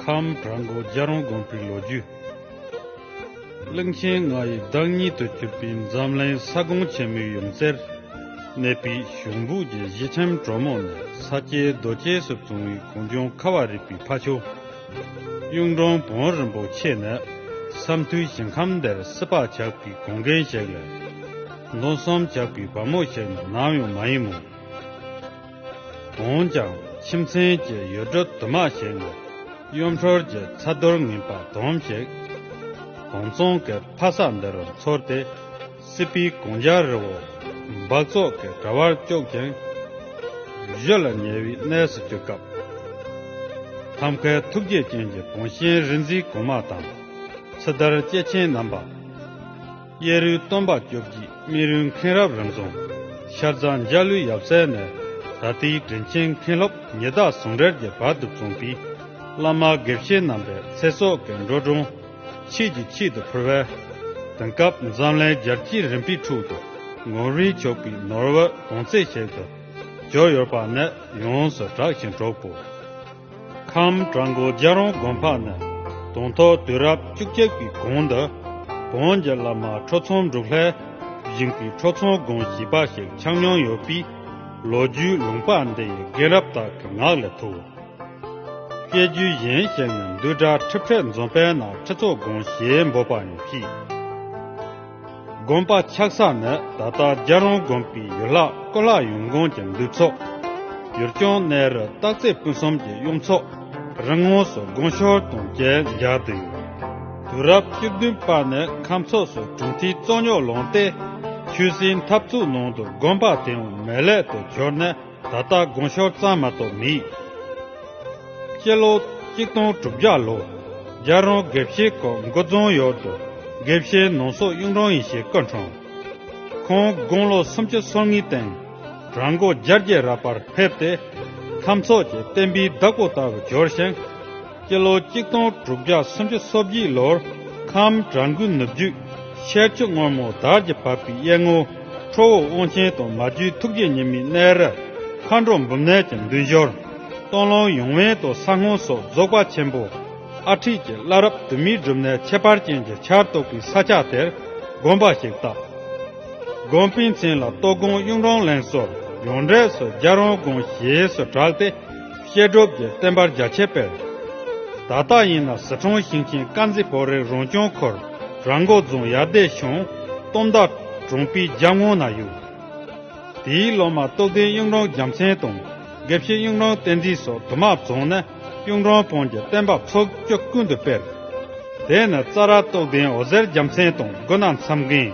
ཁམས་བྲག་མགོ་རྒྱལ་རོང་དགོན་པའི་ལོ་རྒྱུས། གླིང་ཆེན་ལྔ་ཡི་བདག་ཉིད་དུ་གྱུར་པའི་འཛམ་གླིང་ས་ཁོངས་ཆེན་མོའི་ཡུམ་རྩེར་གནས་པའི་གཞུང་སྦུག་གི་གཞི་ཁྲིམས་གྲོ་མོ་ནི་ས་སྐྱའི་རྡོ་གཅལ་སུ་བཟུང་བའི་གུང་ཆུང་ཁ་བ་རིག་པའི་ཕ་ཆོས་གཡུང་དྲུང་བོན་རིན་པོ་ཆེ་ནི་ས་མཐོའི་ཞིང་ཁམས་འདིར་སྲིད་པ་ཇག་པའི་དགོན་རྒན་ཞིག་ལས་མདོ་གསུམ་ཇག་པའི་བ་མོ་ཞིག་ནི་ནམ་ཡང་མ་ཡིན་མོད། འོན་ཀྱང་ཁྱིམ་ཚན་གྱི་ཡུལ་གྲུ་དུ་མ་ཞིག་ནས་གཡུ་འཕྲོར་གྱི་ཚ་རྡུལ་ངན་པ་དུམ་ཞིག་གོང་ཚོང་གི་ཕ་ས་འདི་རུ་འཚོལ་ཏེ་སྲིད་པའི་གོང་རྒྱ་རི་བོ་འབག་བཙོག་གི་དྲ་བར་བཅུག་ཅིང། བཞུད་ལ་ཉེ་བའི་གནས་སུ་བསྐྱོད་སྐབས། ཐབས་མཁས་ཐུགས་རྗེ་ཅན་གྱི་དགོངས་ཞེན་རིག་འཛིན་གོང་མ་དང་ཚེ་དར་སྐྱེས་ཆེན་རྣམ་པ། གཡས་རུའི་སྟོན་པ་སྐྱོབ་བགྱིད་སྨིན་རུའི་མཁན་རབས་རང་བྱུང། ཤར་རྫ་འཇའ་ལུས་ཡབ་སྲས་ནས་ད་ལྟའི་དྲིན་ཆེན་མཁན་སློབ་ཉི་ཟླ་ཟུང་རལ་གྱི་བར་དུ་བྱུང་བས། བླ་མ་དགེ་བཤེས་རྣམ་པའི་ཚེ་སྲོག་གི་འགྲོ་གྲོན་ཕྱིས་ཀྱི་ཕྱིས་དུ་ཕུལ་བས། དེང་སྐབས་འཛམ་གླིང་རྒྱལ་སྤྱིའི་རིམ་པའི་ཁྲོད་དུ་ངོར་རིན་ཆོག་པའི་ནོར་བུ་དོང་ཙེ་ཞིག་ཏུ་གྱུར་ཡོད་པ་ནི་ཡོངས་སུ་གྲགས་ཤིང་གྲོགས་པོ། ཁམས་བྲག་མགོ་རྒྱལ་རོང་དགོན་ཕག་ན་དུང་ཐོག་དུས་རབས་བཅུ་གཅིག་པའི་གོང་དུ་བོན་གྱི་བླ་མ་ཁྲོ་ཚོམ་འབྲུག་ལྷས་བཞེངས་པའི་ཁྲོ་ཚོམ་དགོན་ཞེས་པ་ཞིག་ཆགས་མྱོང་ཡོད་པས་ལོ་རྒྱུས་ལུང་པ་འདི་ཡི་རྒན་རབས་དག་གི་ངག་ལས་ཐུག། སྐད་རྒྱུད་གཞན་ཞིག་ནི་འདུལ་དགྲ་ཁྲི་ཕྲད་འཛོམས་པའི་ནང་ཁྲི་ཚོགས་དགོན་ཞེས་འབོད་པ་ཡང་མཆིས། དགོན་པ་ཆགས་ས་ནི་ད་ལྟ་རྒྱ་རོང་དགོན་པའི་ཡུལ་ལྷ་ཀོ་ལྷ་ཡུམ་དགོན་གྱི་འདུས་ཚོགས། ཡུལ་སྐྱོང་གནས་རི་སྟག་རྩེ་སྤུན་གསུམ་གྱི་གཡུང་ཚོགས། རི་ངོགས་སུ་དགོན་ཤོར་དང་བཅས་འཇགས་དུས། དུས་རབས་བཅུ་བདུན་པ་ནས་ཁམས་ཚོགས་སུ་གྲུབ་མཐའི་གཙོ་རྙོག་ལངས་ཏེ། ཆོས་སྲིད་འཐབ་རྩོད་ནང་དུ་དགོན་པ་དེའང་མེད་ལས་དུ་གྱུར་ནས། ད་ལྟ་དགོངས་ཤོར་གཙང་མ་གཏོགས་མི་ཡིས། སྤྱི་ལོ་གཅིག་སྟོང་དྲུག་བརྒྱ་ལོ་རྒྱལ་རོང་དགེ་བཤེས་ཁོ་མགོ་རྫོང་ཡོར་དུ་དགེ་བཤེས་ནོངས་སོགས་གཡུང་དྲུང་ཡེ་ཤེས་བཀའ་འཁྲུངས། ཁོང་དགུང་ལོ་སུམ་ཅུ་སོ་གཉིས་སྟེང་རང་མགོ་སྦྱར་རྒྱལ་རབས་པར་ཕེབས་ཏེ། ཁམས་ཚོགས་ཀྱི་བསྟན་པའི་བདག་པོ་ལྟ་བུ་འབྱོར་ཞིང། སྤྱི་ལོ་གཅིག་སྟོང་དྲུག་བརྒྱ་སུམ་ཅུ་སོ་བཞི་ལོར་ཁམས་བྲག་མགུལ་ནུབ་བརྒྱུད་ཤེལ་ཆུ་སྔོན་མོ་དར་གྱིས་བབས་པའི་གཡས་སྔོ་ཁྲོ་བོ་དབང་ཆེན་དང་མ་རྒྱུད་ཐུགས་རྗེ་ཉི་མའི་གནས་རི། མཁའ་འགྲོ་འབུམ་ནལ་གྱི་མདུན་ཞོར། སྟོན་ལུང་ཡུང་བན་དང་ས་སྔོན་སོགས་རྫོགས་པ་ཆེན་པོ་ཨ་ཁྲིད་ཀྱི་བླ་རབས་དུ་མའི་སྒྲུབ་གནས་ཁྱད་པར་ཅན་གྱི་ཆར་གཏོགས་པའི་ས་ཆ་དེར་དགོན་པ་ཞིག་བཏབ། དགོན་པའི་མཚན་ལ་གཏོ་དགོན་གཡུང་དྲུང་བརླན་སོགས་ཡོངས་གྲས་སུ་རྒྱ་རོང་དགོན་ཞེས་སུ་གྲགས་ཏེ། བཤད་སྒྲུབ་ཀྱི་བསྟན་པར་རྒྱ་ཆེར་སྤེལ། ད་ལྟ་ཡིན་ན་ཟི་གྲོང་ཞིང་ཆེན་དཀར་མཛེས་བོད་རིགས་རང་སྐྱོང་ཁུལ་རང་འགོ་རྫོང་ཡར་སྡེ་གཞུང་སྟོང་མདའ་གྲོང་པི་རྒྱ་སྔོ་ན་ཡུལ། དེའི་སློབ་མ་རྟོགས་ལྡན་གཡུང་དྲུང་རྒྱལ་མཚན་དང་དགེ་བཤེས་གཡུང་དྲུང་བསྟན་འཛིན་སོགས་དུ་མ་བཙོང་ནས་གཡུང་དྲུང་བོན་གྱི་བསྟན་པ་ཚོགས་སྐྱོ་ཀུན་ཏུ་སྤེལ། དེ་ནས་རྩ་ར་རྟོགས་ལྡན་འོ་ཟེར་རྒྱལ་མཚན་དང་དགུ་ན་མཚམས་རྒན།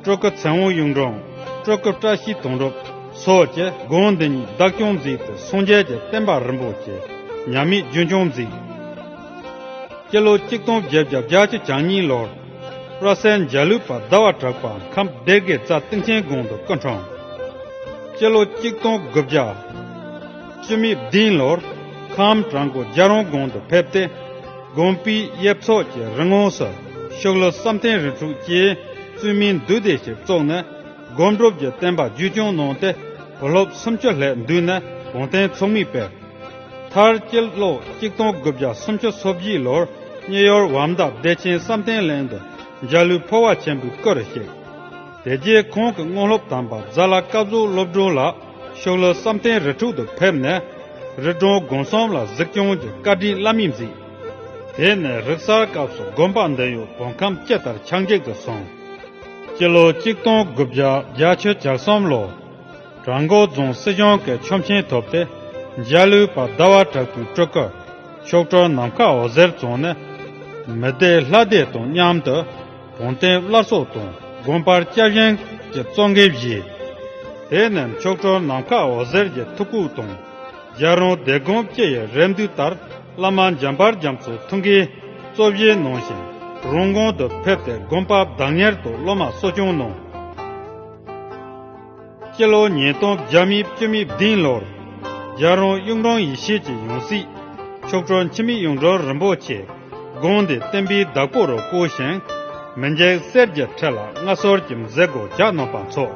སྤྲོ་དགའ་ཚེ་དབང་གཡུང་དྲུང་སྤྲོ་དགའ་བཀྲ་ཤིས་དོང་སྤྲུག་སོགས་ཀྱི་དགོན་འདི་ཉིད་བདག་སྐྱོང་གཟིགས་ཏེ་སངས་རྒྱས་ཀྱི་བསྟན་པ་རིན་པོ་ཆེ་ཉམས་མེད་རྒྱུན་སྐྱོང་གཟིགས། སྤྱི་ལོ་གཅིག་སྟོང་བརྒྱད་བརྒྱ་བརྒྱ་ཅུ་གྱ་གཉིས་ལོར་བླ་སེར་འཇའ་ལུས་པ་ཟླ་བ་གྲགས་པ་ཁམས་སྡེ་དགེ་རྩ་སྟེང་ཆེན་དགོན་དུ་སྐུ་འཁྲུངས། སྤྱི་ལོ་གཅིག་སྟོང་དགུ་བརྒྱ་བཅུ་མེད་བདུན་ལོར་ཁམས་བྲག་མགོ་རྒྱ་རོང་དགོན་དུ་ཕེབས་ཏེ་དགོན་པའི་ཡེབ་ཚོགས་ཀྱི་རི་ངོགས་སུ། ཤོག་ལོ་བསམ་གཏན་རིགས་དྲུག་སྐྱེས། བཙུན་མིང་བདུད་སྡེ་ཞེས་བཙོག་ནས། སྒོམ་སྒྲུབ་ཀྱི་བསྟན་པ་རྒྱུད་སྐྱོང་གནང་སྟེ། བུ་སློབ་སུམ་ཅུ་ལྷས་འདུས་ནས་གོང་བསྟན་ཚོགས་མི་སྤེལ། མཐར་སྐྱེས་ལོ་གཅིག་སྟོང་དགུ་བརྒྱ་སུམ་ཅུ་སོ་བཞི་ལོར་གཉིས་ཡོར་བམ་བདག་བདེ་ཆེན་བསམ་གཏན་གླིང་དུ་འཇའ་ལུས་འཕོ་བ་ཆེན་པོའི་སྐུར་གཤེགས། དེ་རྗེས་ཁོང་གི་དངོས་སློབ་དམ་པ་རྫ་བླ་བཀའ་ཟུར་སློབ་སྒྲོན་ལགས་ཤོག་ལོ་བསམ་གཏན་རིགས་དྲུག་ཏུ་ཕེབས་ནས། རི་གྲོང་སྒོམ་གསུམ་ལ་གཟིགས་སྐྱོང་གི་བཀའ་དྲིན་བླ་མེད་མཛད། དེ་ནས་རིག་གསར་སྐབས་སུ་དགོན་པ་འདི་ཡུལ་སྒོ་ཁམས་སྐྱེ་ལྟར་ཆགས་འཇིག་ཏུ་སོང། སྤྱི་ལོ་གཅིག་སྟོང་དགུ་བརྒྱ་བརྒྱ་ཆུ་འཇག་གསུམ་ལོར་བྲག་མགོ་རྫོང་སྲིད་གཞུང་གི་ཆོམ་ཆེན་ཐོབ་སྟེ་འཇའ་ལུས་པ་ཟླ་བ་དྲག་པོའི་སྤྲུལ་སྐུ། མཆོག་སྤྲུལ་ནམ་མཁའ་འོད་ཟེར་བཙོང་ནས། མི་སྡེ་ལྷ་སྡེ་དང་མཉམ་དུ་བོན་བསྟན་བླ་སྲོག་དང་དགོན་པར་སྐྱབས་གཞན་གྱི་གཙོ་འགན་བཞེས། དེ་ནས་མཆོག་སྤྲུལ་ནམ་མཁའ་འོད་ཟེར་གྱི་ཐུགས་བཀུག་དང་རྒྱལ་རོང་སྡེ་དགོན་སྐྱེ་ཡི་རེ་འདུན་ལྟར། བླ་མ་འཇམ་དཔལ་རྒྱ་མཚོའི་ཐུགས་ཀྱི་གཙོ་བཞེས་གནང་ཞིང་རོང་ཀོང་དུ་ཕེབས་ཏེ་དགོན་པ་བདག་གཉེར་དུ་སློབ་མ་གསོ་སྐྱོང་གནང། སྤྱི་ལོ་ཉིས་སྟོང་བརྒྱ་དམིགས་བཅུ་དམིགས་བདུན་ལོར་རྒྱལ་རོང་གཡུང་དྲུང་ཡེ་ཤེས་ཀྱི་ཡང་སྲིད་མཆོག་ཁྲོ་འཆི་མེད་གཡུང་དྲུང་རིན་པོ་ཆེས་དགོངས་ཏེ་བསྟན་པའི་བདག་པོ་རུ་བསྐོས་ཤིང། མི་འཇིགས་སེར་གྱི་ཁྲི་ལ་མངའ་ཟོར་གྱི་མཛད་སྒོ་རྒྱ་ནོམ་པ་འཚོགས།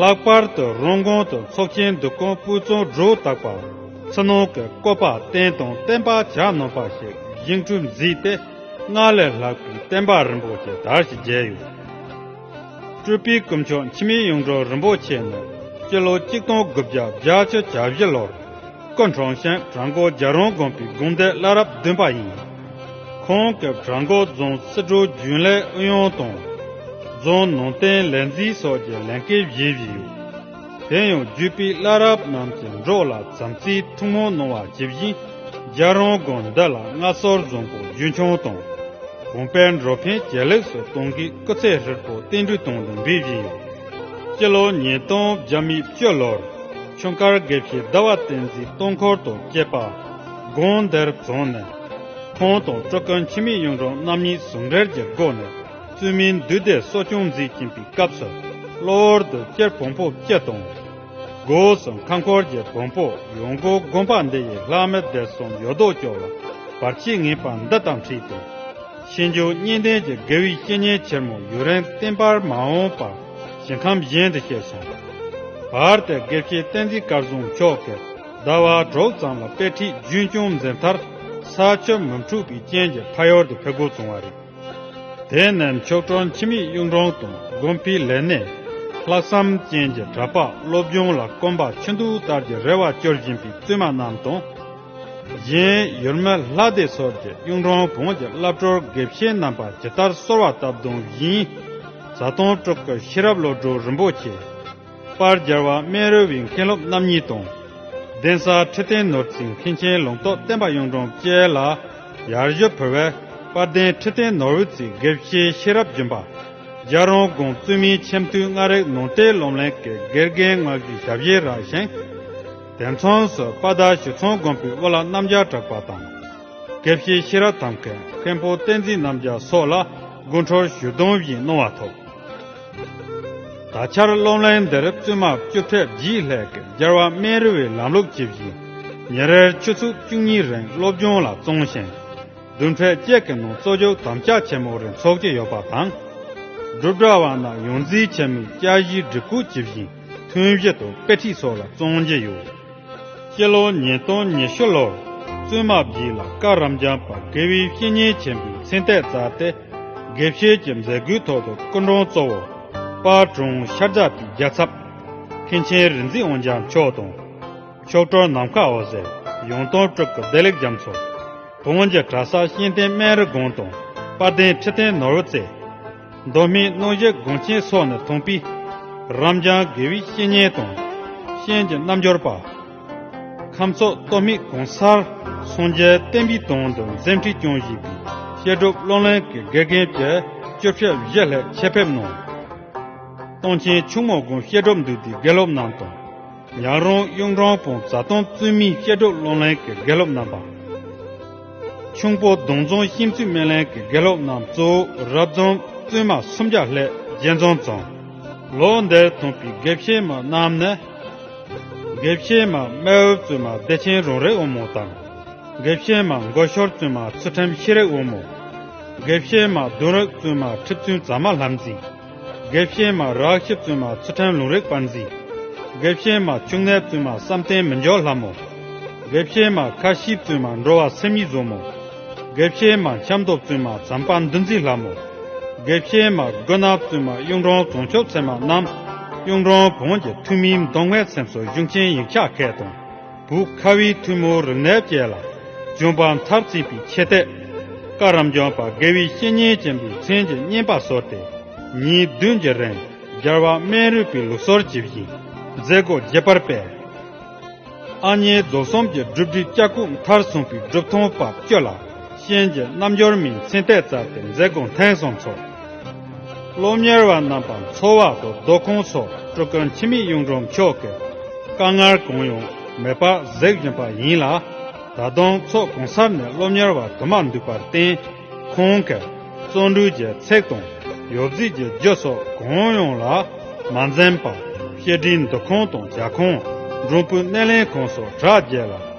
ལྷག་པར་དུ་རོང་གོང་དུ་ཚོགས་ཆེན་བསྡུ་སྐོང་སྤུས་ཚོགས་སྒྲོ་བཏགས་པ་ཕྱི་ནང་གི་བཀོད་པ་བརྟན་དང་བརྟན་པ་གྱ་ནོམ་པ་ཞིག་བཞེངས་གྲུབ་མཛད་དེ་སྔར་ལས་ལྷག་པའི་བསྟན་པ་རིན་པོ་ཆེ་དར་ཞིང་རྒྱས་ཡོད། སྤྲུལ་པའི་སྐུ་མཆོག་འཆི་མེད་གཡུང་དྲུང་རིན་པོ་ཆེ་ནི་སྤྱི་ལོ་གཅིག་སྟོང་དགུ་བརྒྱ་བརྒྱ་བཅུ་གྱ་བཞི་ལོར། སྐུ་འཁྲུངས་ཤིང་བྲག་མགོ་རྒྱལ་རོང་དགོན་པའི་དགོན་སྡེ་བླ་རབས་བདུན་པ་ཡིན། ཁོང་སྐབས་བྲག་མགོ་རྫོང་སྲིད་གྲོས་རྒྱུན་ལས་ཨུ་ཡོན་དང། རྫོང་ནང་བསྟན་ལས་འཛིན་སོགས་ཀྱི་ལས་འགན་བཞེས་ཡོད། དེ་ཡང་བརྒྱུད་པའི་བླ་རབས་རྣམས་ཀྱི་འབྲོག་ལ་བྱམས་བརྩེའི་ཐུགས་སྨོན་གནང་བ་ཇི་བཞིན་རྒྱལ་རོང་དགོན་འདི་ལ་སྔ་སོར་རྫོང་པོ་རྒྱུན་འཁྱོངས་དང། གོང་སྤེལ་འགྲོ་ཕན་ཇེ་ལེགས་སུ་གཏོང་གིས་སྐུ་ཚེ་ཧྲིལ་པོ་བརྟན་བསྒྲུན་དང་ལུང་པའི་བཞེས་ཡོད། སྤྱི་ལོ་ཉིས་སྟོང་བརྒྱ་མེད་བཅུ་ལོར། ཁྱུང་དཀར་སྒེག་ཞིག་ཟླ་བ་བསྟན་འཛིན་སྟོང་འཁོར་དང་བཅས་པ་དགོན་དེར་བྱོན་ནས། ཁོང་དང་སྤྲུལ་དགོན་འཆི་མེད་གཡུང་དྲུང་རྣམ་གཉིས་ཟུང་འབྲེལ་གྱི་སྒོ་ནས་བཙུན་མིའི་འདུས་སྡེ་གསོ་སྐྱོང་མཛད་ཀྱིན་པའི་སྐབས་སུ་གློ་བུར་དུ་སྐྱེར་བོང་ཕོ་སྐྱེས་དང། སྒོས་སུ་མཁའ་འཁོར་གྱི་བོང་བུ་ཡོངས་སྒོ་དགོན་པ་འདི་ཡི་ལྷག་མའི་སྡེར་སོང་ཡོད་དོ་ཅོག་ལ་བར་ཆད་ངེས་པ་འདི་དང་འཁྲིད་དེ། ཤེས་འཇུག་གཉིས་ལྡན་གྱི་དགེ་བའི་བཤེས་གཉེན་ཆེར་མོ་ཡུ་རན་བསྟན་པར་མ་འོངས་པ། ཞིང་ཁམས་གཞན་དུ་སྐྱེས་སོང། བར་དེར་དགེ་བཤེས་བསྟན་འཛིན་དཀར་གཟུངས་མཆོག་གིས་ཟླ་བ་དྲུག་ཙམ་ལ་དཔེ་ཁྲིད་རྒྱུན་སྐྱོང་མཛད་མཐར་ས་ཆོད་མུན་འཁྲུགས་པའི་རྐྱེན་གྱིས་ཕ་ཡོར་དུ་ཕེབས་དགོས་བྱུང་བ་རེད། དེ་ནས་མཆོག་སྤྲུལ་འཆི་མེད་གཡུང་དྲུང་དང་དགོན་པའི་ལས་སྣེ། ལྷག་བསམ་ཅན་གྱི་གྲྭ་ཕག་སློབ་སྦྱོང་ལ་སྐོམ་པ་ཆུ་འདུག་ལྟར་གྱི་རེ་བ་སྐྱོར་བཞིན་པའི་བཙུན་མ་རྣམས་དང། གཞན་ཡུལ་མི་ལྷ་སྡེ་སོགས་ཀྱིས་གཡུང་དྲུང་བོན་གྱི་བླ་བྲོར་དགེ་བཤེས་རྣམ་པ་ཇི་ལྟར་གསོལ་བ་བཏབ་དོན་བཞིན། བཟའ་བཏུང་སྤྲོ་སྐབས་ཤེས་རབ་བློ་གྲོས་རིན་པོ་ཆེ། པར་སྦྱར་བ་སྨན་རོལ་བའི་མཁན་སློབ་རྣམ་གཉིས་དང། གདན་ས་ཁྲི་བརྟན་ནོར་འཛིན་མཁན་ཆེན་ལུང་རྟོགས་བསྟན་པ་གཡུང་དྲུང་བཅས་ལ་ཡར་གཞོལ་བོད་བས་དཔལ་ལྡན་ཁྲི་བརྟན་ནོར་འོད་ཀྱི་དགེ་བཤེས་ཤེས་རབ་སྦྱིན་པ། རྒྱ་རོང་དགོན་བཙུན་མིའི་ཆེམ་དུས་སྔ་རེག་ནང་བསྟན་སློབ་གླིང་གི་དགེ་རྒན་མངག་གཞིའི་ཞབས་གཞས་རག་བཞེངས། དེ་མཚུངས་སུ་དཔའ་རྟ་ཞི་ཚོང་དགོན་པའི་དབུ་བླ་རྣམ་རྒྱལ་གྲགས་པ་དང། དགེ་བཤེས་ཤེས་རབ་དམ་མཁའི་མཁན་པོ་བསྟན་འཛིན་རྣམ་རྒྱལ་སོགས་ལ་དགུན་ཁྲོར་ཞུ་སྡོམ་བཞིན་གནང་བ་ཐོབ། ད་ཆར་སློབ་གླིང་འདིར་བཙུན་མ་བཅུ་ཕྲག་བཞིའི་ལྷས་ཀྱི་སྦྱར་བ་སྨན་རི་བའི་ལམ་ལུགས་ཇི་བཞིན་ཉིན་རེར་ཆུ་ཚོད་བཅུ་གཉིས་རིང་སློབ་སྦྱོང་ལ་བརྩོན་ཞིང། བདུན་ཕྲག་བཅས་ཀྱི་ནང་གཙོ་སྦྱོར་དམ་བཅའ་ཆེན་མོ་རེ་འཚོགས་ཀྱི་ཡོད་པ་དང། སྒྲུབ་གྲྭ་བ་རྣམས་ཡོངས་འཛིན་ཆེན་མོའི་བཅའ་གཞིའི་སྒྲིག་བཀོད་ཇི་བཞིན་ཐུན་བཞི་དང་དཔེ་ཁྲིད་སོགས་ལ་བརྩོན་གྱི་ཡོད། སྤྱི་ལོ་ཉིས་སྟོང་ཉི་ཤུ་ལོར་བཙུན་མ་བརྒྱུད་ལ་བཀའ་རམས་ལྗང་པ་དགེ་བའི་བཤེས་གཉེན་ཆེན་པོའི་མཚན་ལྟས་བསྩལ་ཏེ། དགེ་བཤེས་ཀྱི་མཛད་སྒོའི་ཐོག་ཏུ་སྐུ་མགྲོན་གཙོ་བོ་དཔའ་དྲུང་ཤར་རྫ་པའི་རྒྱལ་ཚབ་མཁན་ཆེན་རིག་འཛིན་དབོན་འཇམ་མཆོག་དང། མཆོག་སྤྲུལ་ནམ་མཁའ་འོད་ཟེར་ཡོངས་སྟོང་སྤྲུལ་སྐུ་བདེ་ལེགས་རྒྱ་མཚོ། བོད་དབོན་གྱི་གྲྭ་ས་གཤེན་བསྟན་སྨན་རི་དགོན་དང་དཔལ་ལྡན་ཁྲི་བརྟན་ནོར་བུ་རྩེ། མདོ་སྨད་རྣོ་རྒྱལ་དགོན་ཆེན་སོགས་ནས་དོང་པི། རམ་བྱང་དགེ་བི་བཤེས་གཉེན་དང་གཤེན་གྱི་རྣམ་འབྱོར་པ། ཁམས་སོག་སྟོད་སྨད་གོང་གསར་སངས་རྒྱས་བསྟན་པའི་དོན་དུ་འཛིན་ཁྲི་སྐྱོང་བཞེས་པའི་བཤད་སྒྲུབ་བློ་ལེན་གྱི་དགེ་རྒན་བཅས་བཅུ་ཕྱེད་བཞི་ལྷག་ཆེད་ཕེབས་གནང། སྟོང་ཆེན་ཆུ་མོ་དགོན་བཤད་སྒྲུབ་འདུས་སྡེའི་དགེ་སློབ་རྣམས་དང། ཉག་རོང་གཡུང་དྲུང་བོན་བཟའ་བཏང་བཙུན་མིའི་བཤད་སྒྲུབ་བློ་ལེན་གྱི་དགེ་སློབ་རྣམ་པ། ཁྱུང་པོ་གདོང་རྫོང་གཤིན་རྩི་སྨན་ལན་གྱི་དགེ་སློབ་རྣམས་གཙོ་བོ་རབ་འབྱམས་བཙུན་མ་སུམ་བརྒྱ་ལྷས་རྒྱལ་རྫོང་རྫོང། ལོ་འདིར་འཐོན་པའི་དགེ་བཤེས་མ་རྣམས་ནི། དགེ་བཤེས་མ་རྨེ་འོད་བཙུན་མ་བདེ་ཆེན་རོང་རིགས་དབུ་མོ་དང། དགེ་བཤེས་མ་མགོ་ཤོར་བཙུན་མ་ཚུལ་ཁྲིམས་ཤེས་རིག་དབུ་མོ། དགེ་བཤེས་མ་བདུན་རིགས་བཙུན་མ་ཁྲི་བཙུན་ཛམ་མ་ལྷ་འཛིན། དགེ་བཤེས་མ་རག་ཤི་བཙུན་མ་ཚུལ་ཁྲིམས་ལུང་རིགས་དཔར་འཛིན། དགེ་བཤེས་མ་བཅུ་ལྔའི་བཙུན་མ་བསམ་གཏན་མི་འཇོག་ལྷ་མོ། དགེ་བཤེས་མ་ཁ་ཤིའི་བཙུན་མ་འགྲོ་བ་སེམས་ཡིད་བཟོ་མོ། དགེ་བཤེས་མ་ཁྱམས་རྡོ་བཙུན་མ་ཛམ་པ་འདུ་འཛི་ལྷ་མོ། དགེ་བཤེས་མ་རྒོད་ནག་བཙུན་མ་གཡུང་དྲུང་རྫོང་ཆོས་ཚད་མ་རྣམས། གཡུང་དྲུང་བོན་གྱི་ཐུན་མིན་མདོ་སྔའི་ཚེམས་སོ་གཞུང་ཆེན་ཡིག་ཆ་མཁས་དང། བུ་ཁ་བའི་ཐུན་མོང་རིག་གནས་བཅས་ལ་ལྗོན་པ་མཐར་བརྩིས་པའི་ཆེ་བསྟོད། བཀའ་རམས་ལྗོན་པ་དགེ་བའི་བཤེས་གཉེན་ཅན་པའི་མཚན་གྱི་སྙན་པ་གསོལ་ཏེ་ཉིན་བདུན་གྱི་རིང་སྦྱར་བ་སྨན་རུས་པའི་ལུགས་སྲོལ་གྱིས་བཞིན་མཛད་སྒོ་རྒྱས་པར་སྤེལ། ཨ་མྱེས་རྫོགས་གསུམ་གྱི་སྒྲུབ་སྒྲིག་ལྕགས་སྐུད་མཐར་སོན་པའི་སྒྲུབ་ཐོང་བབ་ཅོལ་ལ་གཤེན་གྱི་རྣམ་འབྱོར་མའི་མཚན་ལྟས་སྩལ་ཏེ་མཛད་སྒོ་ཐེངས་གསུམ་འཚོགས། སློབ་གཉེར་བ་རྣམས་པ་མཚོ་བར་དུ་རྡོ་ཁུང་སོགས་སྤྲུལ་སྐུ་འཆི་མེད་གཡུང་དྲུང་མཆོག་གི་བཀའ་མངར་གང་ཡང་མེད་པར་གཟིགས་བཞིན་པ་ཡིན་ལ། ད་དུང་ཚོགས་གང་སར་ནས་སློབ་གཉེར་བ་དུ་མ་འདུས་པར་བརྟེན། ཁོང་གིས་བརྩོན་འགྲུས་ཀྱི་ཚེགས་དང་ཡོ་བྱད་ཀྱི་རྒྱུ་སོགས་གང་ཡང་ལ་མ་འཛེམས་པར་བཤད་ཁྲིའི་འདུ་ཁང་དང་རྒྱ་ཁོངས་འབྲོང་བུའི་སྣེ་ལེན་ཁང་སོགས་གྲ་རྒྱས་ལ།